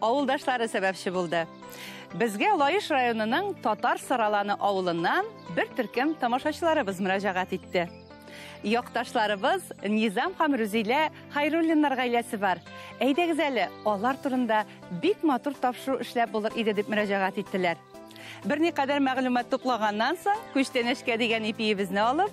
Авылдашлары сәбәпче булды. Безгә Лаеш районының Татар Сараланы авылыннан бер төркем тамашачыларыбыз мөрәҗәгать итте. Якташларыбыз Низам һәм Рүзилә Хайруллиннар гаиләсе бар. Әйдәгез әле, алар турында бик матур тапшыру эшләп булыр иде дип мөрәҗәгать иттеләр. Берникадәр мәгълүмат туплаганнан соң, күчтәнәчкә дигән ипиебезне алып,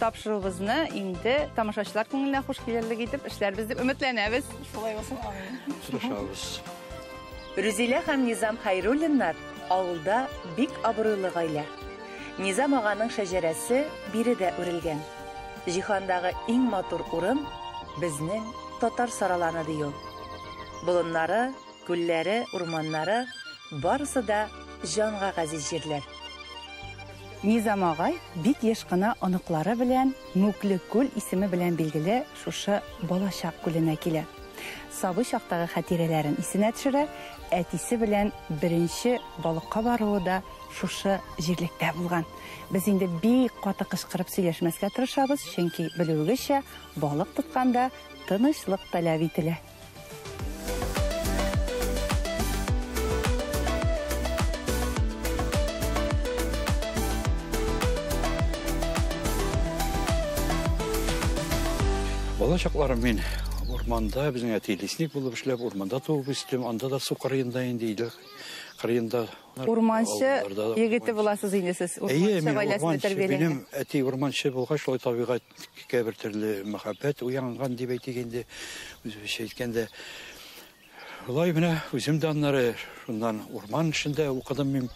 Тапшыруыбызны инде тамашачылар күңеленә хуш килерлек итеп эшләрбез дип өметләнәбез. Шулай булсын, амин. Тырышабыз. Рүзилә һәм Низам Хәйруллиннар авылда бик абруйлы гаилә. Низам аганың шәҗәрәсе биредә үрелгән. Җиһандагы иң матур урын, безнең татар сараланы, ди ул. Болыннары, Күлләре, урманнары, барысы да җанга газиз җирләр. Низам агай бик еш кына оныклары белән Мүкле күл исеме белән билгеле шушы Балачак күленә килә. Сабый чактагы хатирәләрен исенә төшерә, әтисе белән беренче балыкка баруы да шушы җирлектә булган. Без инде бик каты кычкырып сөйләшмәскә тырышабыз, чөнки, белүегезчә, балык тотканда тынычлык таләп ителә. Бала чакларым мин урманда безнең әти лесник булып эшләп урманда туып үстем анда да су кырыенда инде өйдә кырыенда урманчы егете буласыз инде сез урманчы гаиләсендә тәрбияләнгән минем әти урманчы булгач шулай табигать Кикә бер төрле мәхәббәт уянган дип әйтик инде. Үзебезчә әйткәндә, шулай менә үзем дә аннары шуннан урман эшендә укыдым мин.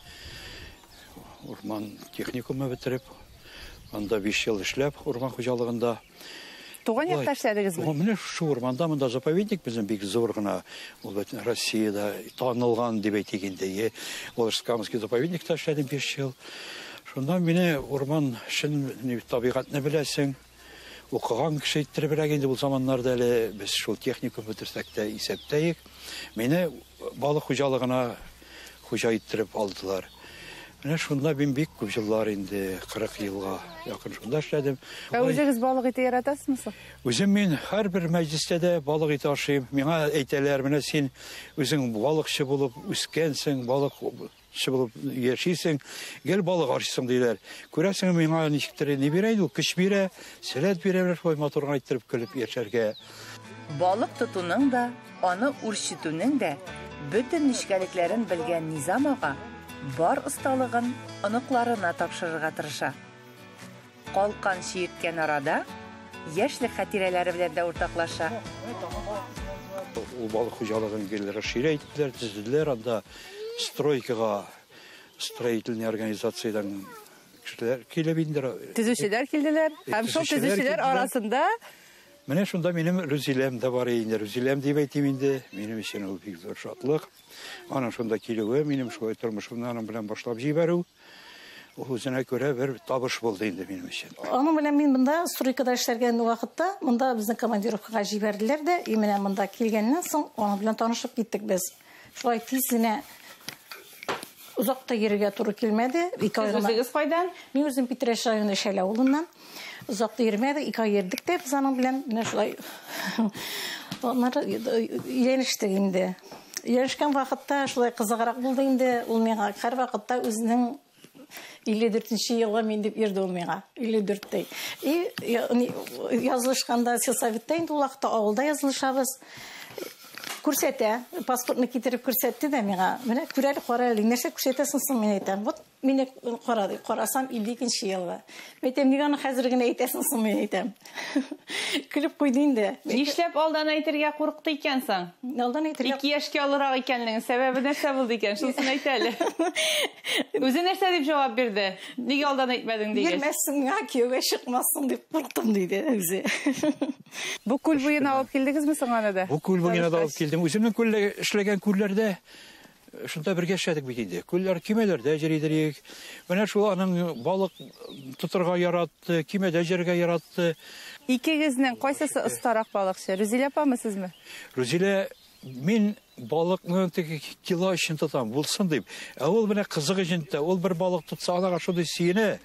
Урман техникумы бетереп, анда 5 ел эшләп, урман хуҗалыгында. Туган якта эшләдегезме? Менә шушы урманда, монда заповедник безнең бик зур гына. Ул бит Россиядә танылган дип әйтик инде. Волжскамский заповедникта эшләдем 5 ел. Шуннан мине урман чын табигатьне беләсең. Укыган кеше иттеребрәк инде ул заманнарда әле без шул техникум бетерсәк тә исәптәек. Мине балык хуҗалыгына хуҗа иттереп алдылар. Менә шунда мин бик күп җыллар инде, 40 елга якын шунда эшләдем. Ә үзегез балык ите яратасызмы соң? Үзем мин һәрбер мәҗлестә дә балык ите ашыйм. Миңа әйтәләр, менә син үзең балыкчы булып үскәнсең, балык Кеше булып яшисең, гел балык арчысың диләр. Күрәсең, миңа ничектер ни бирә инде, көч бирә, сәләт бирә, шулай матур гына иттереп көлеп яшәргә. Балык тотуның да, аны үрчетүнең дә бөтен нечкәлекләрен белгән Низам ага бар осталыгын оныкларына тапшырырга тырыша. Калкан чиерткән арада, яшьлек хатирәләре белән дә уртаклаша. Ул балык хуҗалыгын гел расширя иттеләр, төзеделәр анда. Стройкага строительный организациядән кешеләр килеп инде. Төзүчеләр килделәр һәм шул төзүчеләр арасында Менә шунда минем Рүзиләм дә бар инде. Рүзиләм дип әйтим инде. Минем өчен ул бик зур шатлык. Аның шунда килүе, минем шулай тормышымны аның белән башлап җибәрү. Үзенә күрә бер табыш булды инде минем өчен. Аның белән мин монда стройкада эшләргән вакытта, монда безне командировкага җибәрделәр дә, и менә монда килгәннән соң аның белән танышып киттек без. Шулай тиз генә озак та йөрергә туры килмәде. Ике ай гына. Үзегез кайдан? Мин үзем Питрәч районы Шәлә авылыннан. Озак та йөрмәдек, ике ай йөрдек тә без аның белән. Менә шулай. Аннары өйләнештек инде. Өйләнешкән вакытта шулай кызыграк булды инде. Ул миңа һәр вакытта үзенең 54 елга мин дип йөрде ул миңа. 54 дәй. И язылышканда сельсоветтә инде ул вакытта авылда язылышабыз. Күрсәтә, паспортны китереп күрсәтте дә миңа. Менә күрәле, карале, нәрсә күрсәтәсең соң, мин әйтәм. Вот Мине кара дип карасам, 52 нче елгы. Мин әйтәм, ник аны хәзер генә әйтәсең соң, мин әйтәм. Көлеп куйды инде. Нишләп алдан әйтергә курыкты икән соң? Алдан әйтергә. Ике яшькә олырак икәнлеген сәбәбе нәрсә булды икән? Шунысын әйт әле. Үзе нәрсә дип җавап бирде? Нигә алдан әйтмәдең дигәч? Бирмәссең миңа, кияүгә чыкмассың дип курыктым, диде үзе. Бу күл буена алып килдегезме соң аны да? Бу күл буена да алып килдем. Үземнең күлдә эшләгән күлләрдә Шунда бергә эшләдек бит инде. Күлләр көймәләрдә җыр идерик. Менә шул аның балык тотырга яратты, көймәдә җырга яратты. Икегезнең кайсысы остарак балыкчы? Рүзилә апамы сезме? Рүзилә мин балыкны теге кило өчен тотам, булсын дип. Ә ул менә кызык өчен тә, ул бер балык тотса, анага шундый сөенә.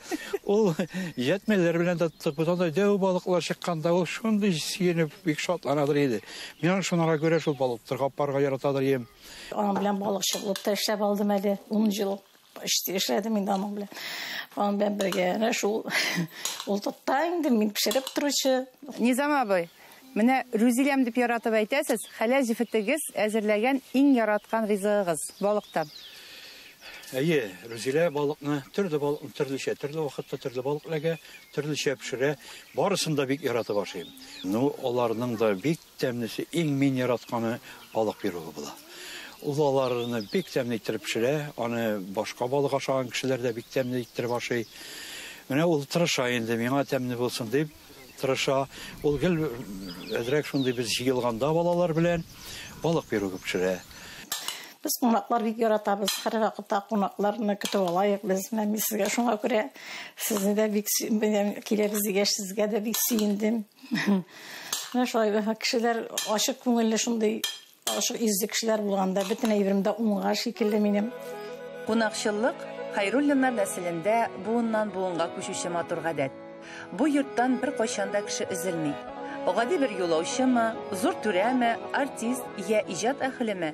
Ул җәтмәләр белән дә тоттык. Без анда дәү балыклар чыкканда ул шундый сөенеп бик шатланадыр иде. Мин аны шунара күрә шул балык тотарга апарга яратадыр идем. Аның белән балыкчылык та эшләп алдым әле. 10 ел почти эшләдем инде аның белән. Аның белән бергә әнә шул ул тотта инде мин пешереп торучы. Низам абый, менә Рүзиләм дип яратып әйтәсез, хәләл җефетегез әзерләгән иң яраткан ризыгыгыз балыктан. Әйе, Рүзилә балыкны, төрле балыкны төрлечә, төрле вакытта төрле балык эләгә, төрлечә пешерә. Барысын да бик яратып ашыйм. Ну, аларның да бик Тәмлесе, иң мин яратканы балык пиругы була. Ул аларны бик тәмле иттереп пешерә, аны башка балык ашаган кешеләр дә бик тәмле иттереп ашый. Менә ул тырыша инде, миңа тәмле булсын дип тырыша. Ул гел әзрәк шундый без җыелганда балалар белән балык пиругы пешерә. Без кунаклар бик яратабыз, һәрвакытта кунакларны көтеп алайык без. Менә мин сезгә шуңа күрә сезне дә бик сөйдем, киләбез дигәч, сезгә дә бик сөендем. Менә шулай кешеләр ачык күңелле шундый ачык изге кешеләр булганда бөтен әйберем дә уңа шикелле минем. Кунакчыллык Хайруллиннар нәселендә буыннан буынга күчүче матур гадәт. Бу йорттан беркайчан да кеше өзелми. Гади бер юлаучымы, зур түрәме, артист йә иҗат әһелеме,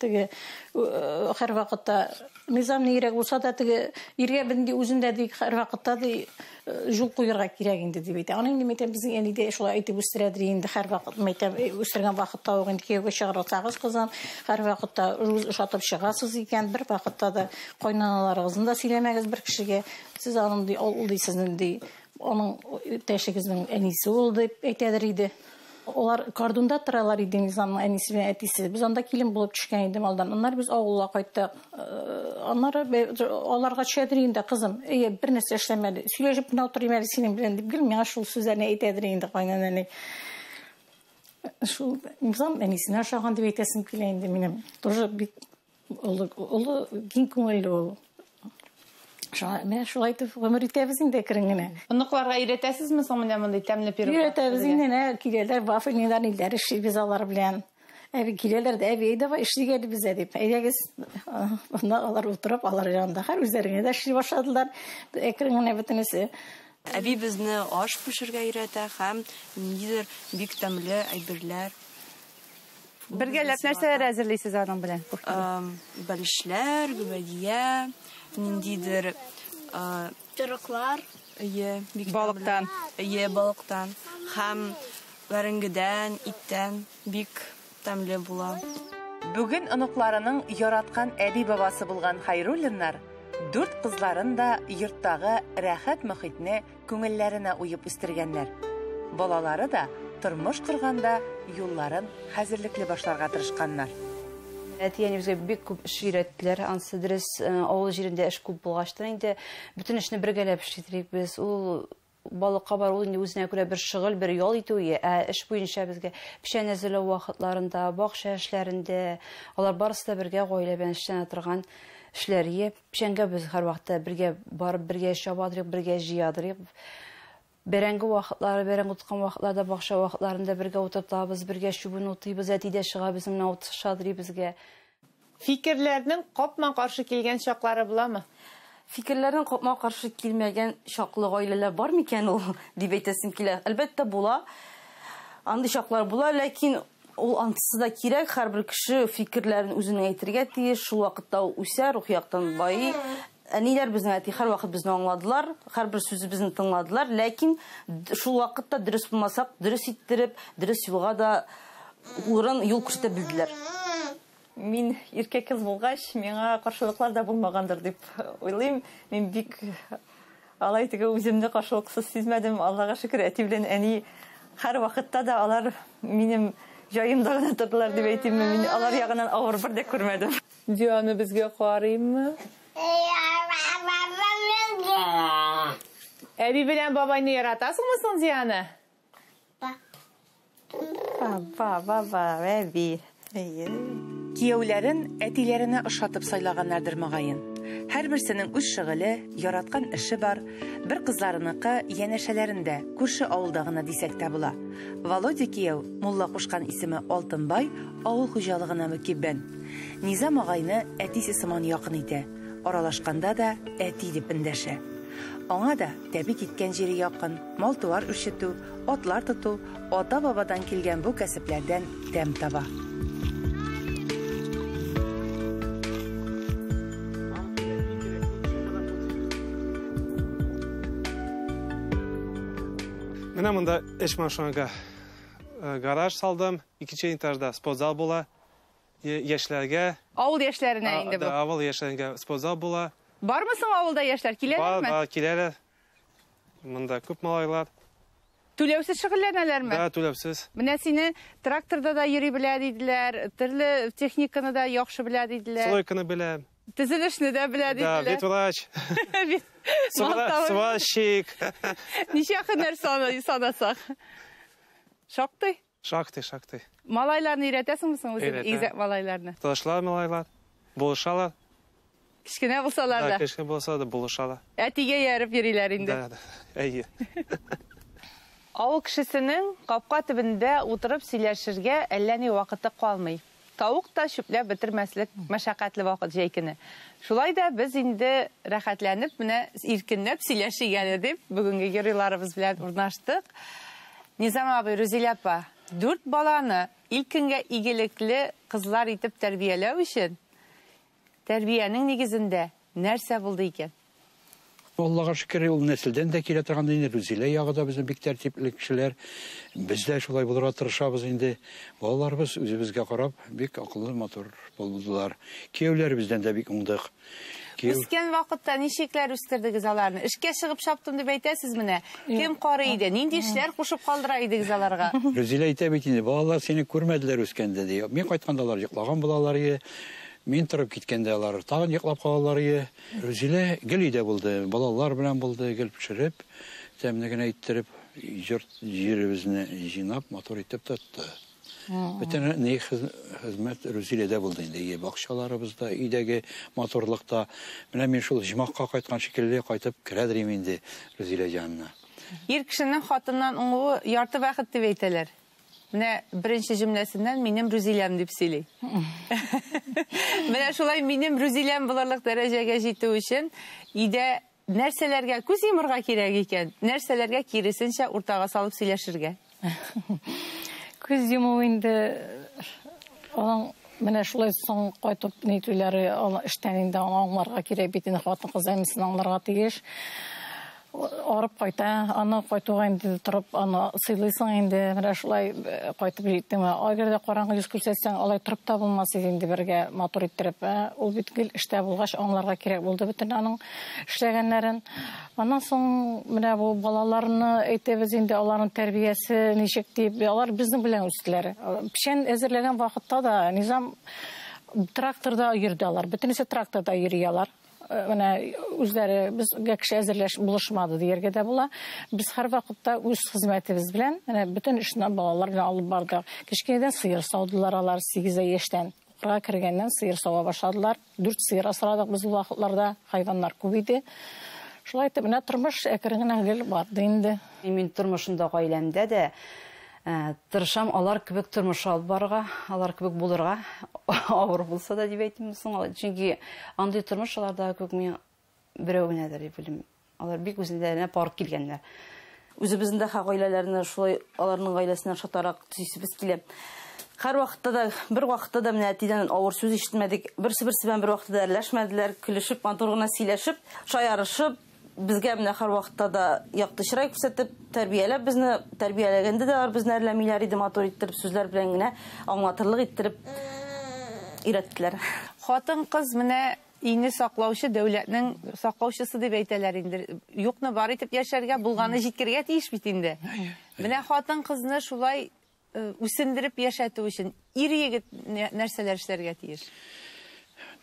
Теге һәрвакытта низам нигрәк булса да, теге иргә бенди үзендә ди һәрвакытта ди юл куярга кирәк инде дип әйтә. Аны инде мәйтәм безнең әни дә шулай әйтеп үстерәдер инде һәрвакыт мәйтәм үстергән вакытта ук инде кияүгә чыгарсагыз кызын һәрвакытта үз ошатып чыгасыз икән, бер вакытта да кайнаналарыгызны да сөйләмәгез бер кешегә. Сез аның ди ул ди сезнең ди аның иптәшегезнең әнисе ул дип әйтәдер иде. Алар Кардунда торалар иде, Низамның әнисе белән әтисе. Без анда килен булып төшкән идем алдан. Аннары без авылга кайттык. Э, аннары аларга төшәдер инде, кызым. Әйе, бер нәрсә эшләмәде. Сөйләшеп кенә утырыйм әле синең белән дип гел миңа шул сүзләрне әйтәдер инде кайнанәни. Шул Низам әнисенә ошаган дип әйтәсем килә инде минем. Тоже бик Олы, олы киң күңелле ул. Шуңа, менә шулай итеп гомер итәбез инде әкрен генә. Оныкларга өйрәтәсезме соң менә мондый тәмле пирог? Өйрәтәбез инде, менә киләләр, вафельныйлар, ниләр эшлибез алар белән. Әби киләләр дә, әби, давай эшлик әле бездә дип. Әйдәгез, монда алар утырып, алар янында хәл үзләренә дә эшли башладылар. Әкрен генә бөтенесе. Әби безне аш пешергә өйрәтә һәм ниндидер бик тәмле әйберләр Бергәләп нәрсәләр әзерлисез аның белән? Бәлешләр, гөбәдия, ниндидер торыклар. Ие, бик балыктан. Ие, балыктан. Хәм вәренгедән, иттән бик тәмле була. Бүген оныкларының яраткан әби-бабасы булган Хайруллиннар дүрт кызларын да йорттагы рәхәт мөхитне күңелләренә уеп үстергәннәр. Балалары да тормыш корганда юлларын хәзерлекле башларга тырышканнар. Әти-әни безгә бик күп эш өйрәттеләр. Ансы дөрес, э, авыл җирендә эш күп булгачтан инде бөтен эшне бергәләп эшлидек без. Ул балыкка бар ул инде үзенә күрә бер шөгыль, бер ял итү ие. Ә эш буенча безгә печән әзерләү вакытларында, бакча эшләрендә, алар барысы да бергә гаилә белән эшләнә торган эшләр ие. Печәнгә без һәрвакытта бергә барып, бергә чабадырыйк, бергә җыядырыйк. Бәрәңге вакытлары, бәрәңге тоткан вакытларда, бакча вакытларында бергә утыртабыз, бергә чүбен утыйбыз, әти дә чыга безнең менә ут шадрый безгә. Фикерләрнең капма-каршы килгән чаклары буламы? Фикерләрнең капма-каршы килмәгән чаклы гаиләләр бар микән ул, дип әйтәсем килә. Әлбәттә, була. Андый чаклар була, ләкин. Ул антысы да кирәк, һәрбер кеше фикерләрен үзенең әйтергә тиеш, шул вакытта ул үсә, рухи яктан байый. Әниләр безнең әти һәрвакыт безне аңладылар, һәрбер сүзебезне тыңладылар, ләкин шул вакытта дөрес булмасак, дөрес иттереп, дөрес юлга да урын, юл күрсәтә белделәр. Мин иркә кыз булгач, миңа каршылыклар да булмагандыр дип уйлыйм. Мин бик алай теге үземне каршылыксыз сизмәдем. Аллага шөкер, әти белән әни һәр вакытта да алар минем җаемда гына тордылар дип әйтим. Мин алар ягынан авыр бер дә күрмәдем. Дианы безгә карыйммы? Әби белән бабайны яратасыңмы соң, Диана? Кияүләрен әтиләренә ошатып сайлаганнардыр, мөгаен. Һәрберсенең үз шөгыле, яраткан эше бар. Бер кызларыныкы, янәшәләрендә, күрше авылда гына дисәк тә була. Володя кияү, мулла кушкан исеме Алтынбай, авыл хуҗалыгына мөкиббән. Низам агайны әтисе сыман якын итә, аралашканда да әти дип эндәшә. Аңа да тәбит иткән җире якын. Мал-туар үрчетү, атлар тоту, ата-бабадан килгән бу кәсепләрдән тәм таба. Менә монда эш машинага э, гараж салдым. Икенче этажда спортзал була. Яшьләргә. Авыл яшьләренә инде бу. Авыл яшьләргә спортзал була. Бармы соң авылда яшьләр? Киләләрме? Бар, бар, киләләр. Монда күп малайлар. Түләүсез шөгыльләнәләрме? Да, түләүсез. Менә сине тракторда да йөри белә диделәр, төрле техниканы да яхшы белә диделәр. Стройканы белә. Төзелешне дә белә диделәр. Да, ветврач. Сварщик. Ничә һөнәр санасак? Шактый. Шактый, шактый. Малайларны өйрәтәсеңме соң үзең Өйрәтәм. игезәк малайларны? Танышлар, малайлар. Булышалар. Кечкенә булсалар Да, да. кешкә булса да булышалар. Әтигә ияреп йөриләр инде. Да, да. Әйе. Авыл кешесенең капка төбендә утырып сөйләшергә әллә ни вакыты калмый. Тавык та чүпләп бетермәслек мәшәкатьле вакыт җәй көне. Шулай да без инде рәхәтләнеп, менә иркенләп сөйләшик әле дип, бүгенге геройларыбыз белән урнаштык. Низам абый, Рузилә апа, дүрт баланы илкенгә игелекле кызлар итеп тәрбияләү өчен, Тәрбиянең нигезендә нәрсә булды икән? Аллага шөкер, ул нәселдән дә килә торган инде. Рүзилә ягы да безнең бик тәртипле кешеләр. Без дә шулай булырга тырышабыз инде. Балаларыбыз үзебезгә карап, бик акыллы, матур булдылар. Кияүләребездән дә бик уңдык. Кияү... Үскән вакытта ничекләр үстердегез аларны? Эшкә чыгып чаптым дип әйтәсез менә. Кем карый иде? Нинди эшләр кушып калдыра идегез аларга? Рүзилә әйтә бит инде, балалар сине күрмәделәр үскәндә, ди. Мин кайтканда алар йоклаган булалар иде. Мин торып киткәндә алар тагын йоклап калалар ие. Рузилә гел өйдә булды, балалар белән булды, гел пешереп, тәмле генә иттереп, йорт җиребезне җыйнап, матур итеп тотты. Бөтен ни хезмәт Рузиләдә булды инде, ие бакчаларыбызда, өйдәге матурлыкта. Менә мин шул оҗмахка кайткан шикелле кайтып керә дирим инде Рузилә җанына. Ир кешенең хатыннан уңуы ярты бәхет дип әйтәләр. Менә беренче җөмләсеннән минем Рүзиләм дип сөйли. Менә шулай минем Рүзиләм булырлык дәрәҗәгә җитү өчен өйдә нәрсәләргә күз йомырга кирәк икән, нәрсәләргә киресенчә уртага салып сөйләшергә? Күз йому инде аның менә шулай соң кайтып ни түләре эштән инде аңларга кирәк бит инде хатын-кыз әнисен аңларга тиеш. арып кайта. Аны кайтуга инде торып, аны сыйлыйсың инде. Менә шулай э, кайтып җиттең. Әгәр дә караңгы йөз күрсәтсәң, алай торып та булмас иде инде бергә матур иттереп. Ә? Ул бит гел эштә булгач, аңларга кирәк булды бөтен аның эшләгәннәрен. Аннан соң менә бу балаларны әйтәбез инде, аларның тәрбиясе ничек дип, алар безнең белән үстеләр. Печән әзерләгән вакытта да Низам тракторда йөрде алар. Бөтенесе тракторда йөри алар. Э, менә үзләре безгә кеше әзерләш булышмады дияргә дә була. Без һәрвакытта үз хезмәтебез белән менә бөтен эшне балалар белән алып бардык. Кечкенәдән сыер саудылар алар 8 яшьтән. Укырга кергәннән сыер сава башладылар. 4 сыер асрадык без ул вакытларда. Хайваннар күп иде. Шулай итеп менә тормыш әкрен генә гел барды инде. Мин тормышында гаиләмдә дә Ә, тырышам алар кебек тормыш алып барырга, алар кебек булырга, авыр булса да дип әйтим соң, чөнки андый тормыш аларда күк мин берәү генәдер дип белем. Алар бик үзләренә пар килгәннәр. Үзебезнең дә гаиләләрне шулай аларның гаиләсенә ошатарак төзисебез килә. Һәр вакытта да, бер вакытта да менә әтидән авыр сүз ишетмәдек. Берсе-берсе белән бер вакытта да әрләшмәделәр. Көлешеп, матур гына сөйләшеп, шаярышып, Безгә менә һәрвакытта да якты чырай күрсәтеп, тәрбияләп безне, тәрбияләгәндә дә алар безне әрләмиләр иде, матур иттереп сүзләр белән генә аңлатырлык иттереп өйрәттеләр. Хатын-кыз менә өйне саклаучы, дәүләтнең саклаучысы дип әйтәләр инде. Юкны бар итеп яшәргә, булганны җиткергә тиеш бит инде. Менә хатын-кызны шулай Үсендереп яшәтү өчен ир-егет нәрсәләр эшләргә тиеш?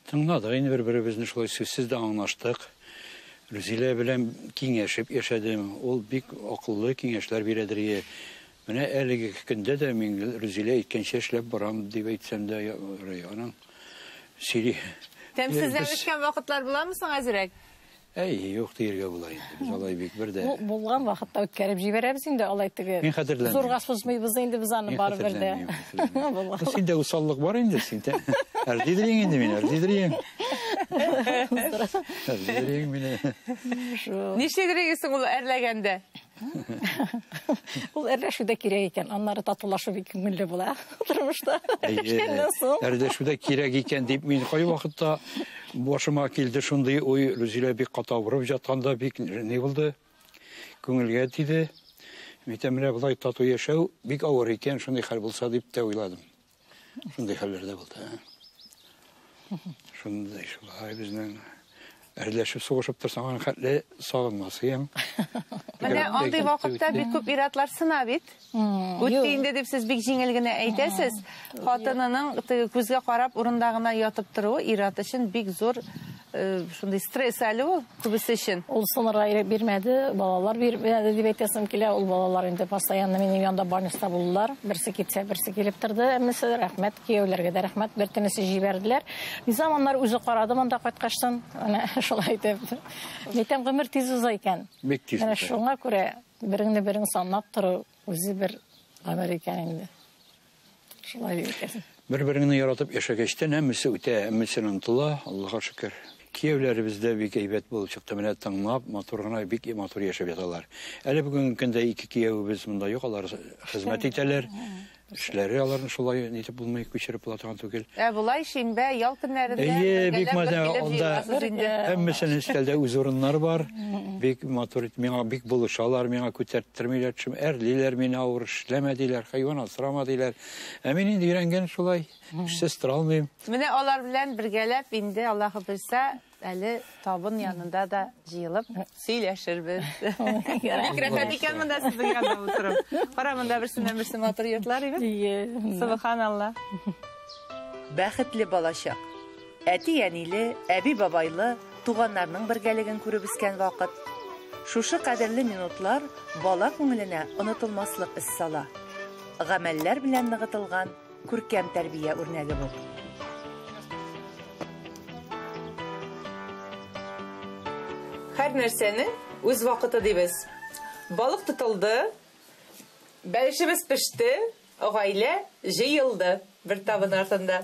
Тыңладык инде бер-беребезне, шулай сүзсез дә аңлаштык. Рүзилә белән киңәшеп яшәдем. Ул бик акыллы киңәшләр бирә Дәрия. Менә әлеге көндә дә мин Рүзилә әйткәнчә эшләп барам дип әйтсәм дә ярый. Аның сөйли. Тәмсезләнешкән вакытлар буламы соң әзрәк? Әй, юк диергә була инде. Без алай бик бер дә. Бу булган вакытта үткәреп җибәрәбез инде алай теге. Мин хәтерләмим. Зурга сузмыйбыз инде без аны бары бер дә. Синдә усаллык бар инде, синдә. Әрдидриң инде мин, әрдидриң. Әрдидриң мине. Ничек регисың ул әрләгәндә? Ул әрләшү дә кирәк икән, аннары татулашу бик күңелле була тормышта. Әрләшү дә кирәк икән дип мин кай вакытта башыма килде шундый уй, Рүзилә бик каты авырып жатканда бик ни булды? Күңелгә тиде. Митәмрә болай тату яшәү бик авыр икән, шундый хәл булса дип тә уйладым. Шундый хәлләр дә булды. Шундый шулай безнең әрләшеп сугышып торсаң аны хәтле сагынмасыйм. Менә андый вакытта бик күп иратлар сына бит. Үтте инде дип сез бик җиңел генә әйтәсез. Хатынының күзгә карап урында гына ятып торуы ират өчен бик зур Э, шундый стресс әле ул күбесе өчен ул сынырга ирек бирмәде балалар бирмәде дип әйтәсем килә ул балалар инде постоянно минем янда больниста булдылар берсе китсә берсе килеп торды әммәсе рәхмәт кияүләргә дә рәхмәт бер тенесе җибәрделәр низам аннары үзе карады монда кайткачтан менә шулай итеп әйтәм гомер тиз уза икән бик тиз менә шуңа күрә береңне берең санап тору үзе бер гомер икән инде Шулай икән. Бер-береңне яратып яшәгәчтән һәммәсе үтә, һәммәсен онытыла, Аллага шөкер. Кияүләребез дә бик әйбәт булып чыкты, менә тыңлап, матур гына, бик матур яшәп яталар. Әле бүгенге көндә ике кияүебез монда юк, алар хезмәт итәләр. Эшләре аларны шулай нитеп булмый, күчереп була торган түгел. Ә болай шимбә, ял көннәрендә Әйе, бик бергәләп матур, бер килеп анда җыеласыз инде. һәммәсенең өстәлдә үз урыннары бар. Бик матур итеп миңа бик булышалар, миңа күтәрт Төрмиләр төшем, әрлиләр мине авыр, эшләмә диләр, хайван асрама диләр. Ә мин инде өйрәнгән шулай, эшсез тора алмыйм. Менә алар белән бергәләп инде Аллаһы белсә, әле табын янында да җыелып сөйләшербез. Бик рәхәт икән монда сезнең янда утырып. Кара монда берсеннән берсе матур йортлар име? Субханалла. Бәхетле балачак. Әти-әниле, әби-бабайлы, туганнарның бергәлеген күреп үскән вакыт. Шушы кадерле минутлар бала күңеленә онытылмаслык эз сала. Гамәлләр белән ныгытылган күркәм тәрбия үрнәге бу. Һәр нәрсәнең үз вакыты дибез. Балык тотылды, бәлешебез пеште, Гаилә җыелды бер табын артында.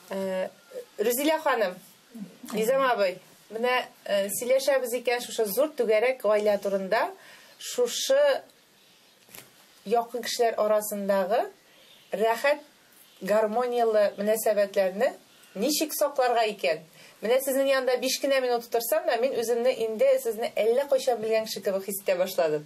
Рүзилә ханым, Низам абый, менә сөйләшәбез икән шушы зур түгәрәк гаилә турында, шушы якын кешеләр арасындагы рәхәт, гармонияле мөнәсәбәтләрне ничек сакларга икән? Менә сезнең янында биш кенә минут утырсам да, мин үземне инде сезне әллә кайчан белгән кеше кебек хис итә башладым.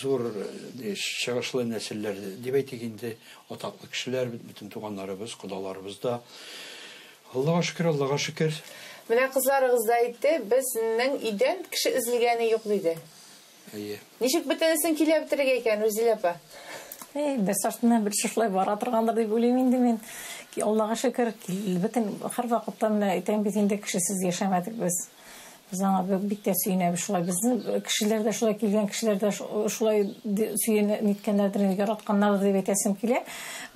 Зур чыгышлы нәселләр дип әйтик инде, атаклы кешеләр, бөтен туганнарыбыз, кодаларыбыз да. Аллага шөкер, Аллага шөкер. Менә кызларыгыз да әйтте, безнең өйдән кеше өзелгәне юк диде. Әйе. Ничек бөтенесен килә бетерергә икән, Рүзилә апа? Әй, бер сортына бер шушылай бара торгандыр дип уйлыйм инде мин. Аллага шөкер, бөтен һәрвакытта менә әйтәм бит инде, кешесез яшәмәдек без. Без аңа бик тә сөенәбез шулай. Безнең кешеләр дә шулай килгән кешеләр дә шулай сөен ниткәннәрдер, яратканнардыр дип әйтәсем килә.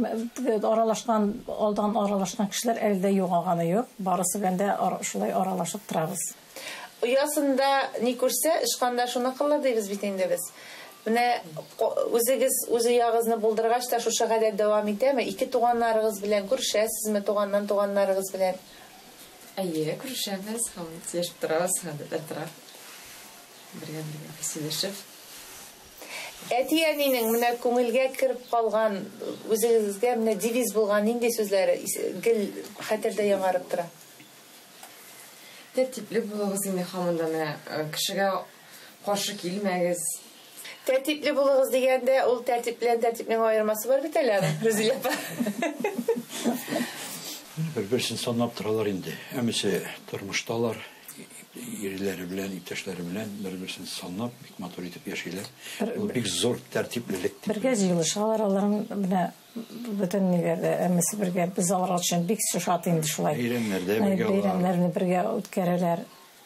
Аралашкан, алдан аралашкан кешеләр әле дә югалганы юк. Барысы белән дә шулай аралашып торабыз. Оясында ни күрсә, ычканда шуны кылыр дибез бит инде без. Менә үзегез үз оягызны булдыргач та шушы гадәт дәвам итәме? Ике туганнарыгыз белән күрешәсезме, туганнан туганнарыгыз белән? Әйе, күрешәбез һәм сөйләшеп торабыз, гадәт арттырак. Бергә бергә сөйләшеп. Әти-әнинең менә күңелгә кереп калган, үзегезгә менә девиз булган нинди сүзләре гел хәтердә яңарып тора? Тәртипле булыгыз инде һаман да менә кешегә каршы килмәгез. Тәртипле булыгыз дигәндә, ул тәртип белән тәртипнең аермасы бар бит әле, Рузилә апа. Бер-берсен санап торалар инде. Әмесе тормышталар, ирләре белән, иптәшләре белән бер-берсен санап, бик матур итеп яшиләр. Ул бик зур тәртиплелек. Бергә җыелышалар алар менә бөтен нигәдә әмесе бергә без алар өчен бик шат инде шулай. Бәйрәмнәрдә бергә. Бәйрәмнәрне бергә үткәрәләр.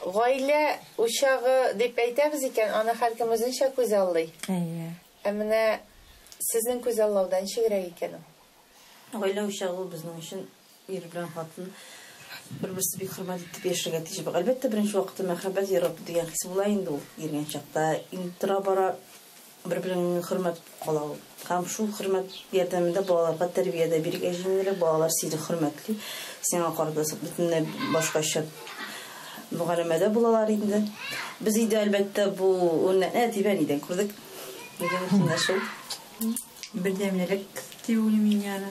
Гаилә учагы дип әйтәбез икән, аны һәркем үзенчә күзаллый. Әйе. Ә менә сезнең күзаллауда ничегрәк икән ул? Гаилә учагы ул безнең өчен ир белән хатын бер-берсе бик хөрмәт итеп яшәргә тиеш. Әлбәттә, беренче вакытта мәхәббәт, ярату дигән хис була инде ул иргән чакта. Инде тора-бара Бер-береңне хөрмәт кала ул. Һәм шул хөрмәт ярдәмендә балаларга тәрбия дә бирергә җиңелрәк, балалар сине хөрмәтли, сиңа карата бөтенләй башкача мөгаләмәдә булалар инде. Без өйдә, әлбәттә, бу үрнәкне әтибә нидән күрдек? Бердәмлек дип уйлыйм мин аны.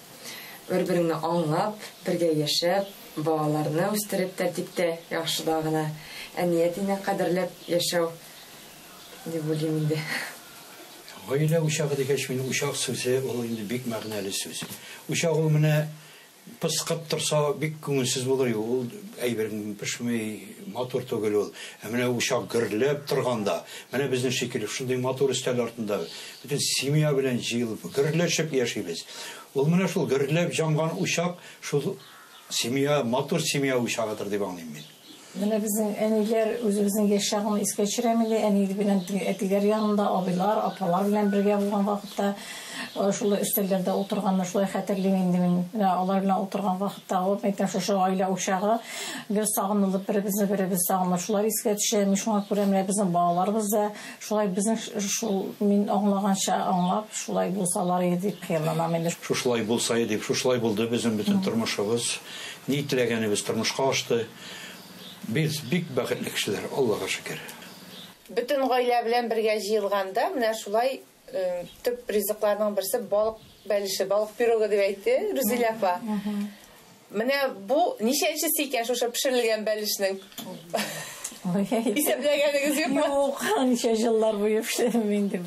Бер-береңне аңлап, бергә яшәп, балаларны үстереп тәртиптә, яхшыда гына, әни-әтине кадерләп яшәү дип уйлыйм инде. Гаилә учагы дигәч, мин учак сүзе ул инде бик мәгънәле сүз. Учак ул менә пыскып торса, бик күңелсез булыр иде, ул әйбер пешми, матур түгел ул. Ә менә учак гөрләп торганда, менә безнең шикелле шундый матур өстәл артында, Бөтен семья белән җыелып, гөрләшеп яшибез. Ул менә шул гөрләп җанган учак, шул семья, матур семья учагыдыр дип аңлыйм мин. Менә безнең әниләр үзебезнең яшь чагны искә төшерәме инде, әни белән теге әтиләр янында, абыйлар, апалар белән бергә булган вакытта, шулай өстәлләрдә утырганны шулай хәтерлим инде мин. Менә алар белән утырган вакытта, вот әйтәм, шушы гаилә учагы гел сагынылып, беребезне-беребез сагынып шулар искә төшә. Мин шуңа күрә менә безнең балаларыбыз да, Шулай безнең шул, мин аңлаганча аңлап, шулай булсаларые дип хыялланам инде. Шушылай булсае дип, шушылай булды безнең бөтен тормышыбыз. Ни теләгәнебез тормышка ашты. Без бик бәхетле кешеләр, Аллага шөкер. Бөтен гаилә белән бергә җыелганда менә шулай төп ризыкларның берсе балык бәлеше, балык пирогы дип әйтте Рүзилә апа. Менә бу ничәнчесе икән шушы пешерелгән бәлешнең? Исәпләгәнегез юкмы? Юк, ничә җыллар буе пешердем инде.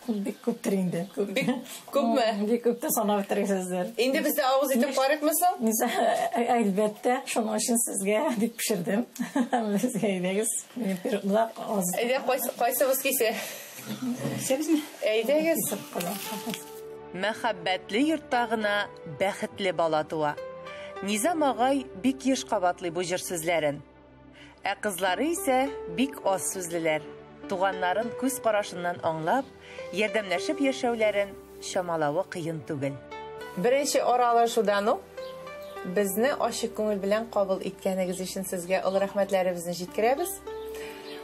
Бик күптер инде. Бик күпме? Бик күптер санап бетерәсездер. Инде без дә авыз итеп карыйкмы соң? Низа, әлбәттә, шуның өчен сезгә дип пешердем. Безгә әйдәгез. Мин пирогда аз. Әйдә, кайсыбыз кисә? Сез Әйдәгез. Мәхәббәтле йортта гына Бәхетле бала туа. Низам агай бик еш кабатлый бу җыр сүзләрен. Ә кызлары исә бик аз сүзлеләр. Туганнарын күз карашыннан аңлап, ярдәмләшеп яшәүләрен чамалавы кыен түгел. Беренче аралашудан ук безне ачык күңел белән кабул иткәнегез өчен сезгә олы рәхмәтләребезне җиткерәбез.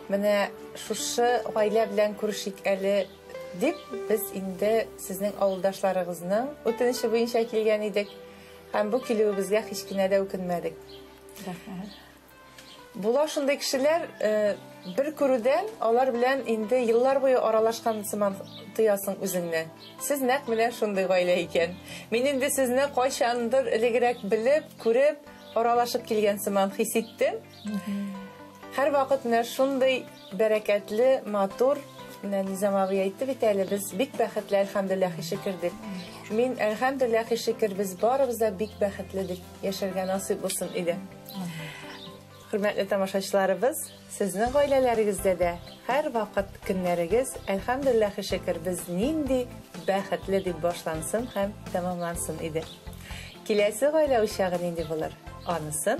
Менә шушы гаилә белән күрешик әле. Дип, без инде сезнең авылдашларыгызның үтенече буенча килгән идек. Һәм бу килүебезгә һич кенә дә үкенмәдек. Була шундый кешеләр, э, бер күрүдән алар белән инде еллар буе аралашкан сыман тоясың үзеңне. Сез нәкъ менә шундый гаилә икән. Мин инде сезне кайчандыр элегрәк белеп, күреп, аралашып килгән сыман хис иттем. Һәрвакыт менә шундый бәрәкәтле, матур, менә Низам абый әйтте бит әле, без бик бәхетле, әлхәмдүлилләһ, шөкер дип. Мин әлхәмдүлилләһ, шөкер, без барыбыз да бик бәхетле дип яшәргә насыйп булсын иде. Хөрмәтле тамашачыларыбыз, сезнең гаиләләрегездә дә һәрвакыт көннәрегез, әлхәмдүлилләһ, шөкер, без нинди бәхетле дип башлансын һәм тәмамлансын иде. Киләсе гаилә учагы нинди булыр? Анысын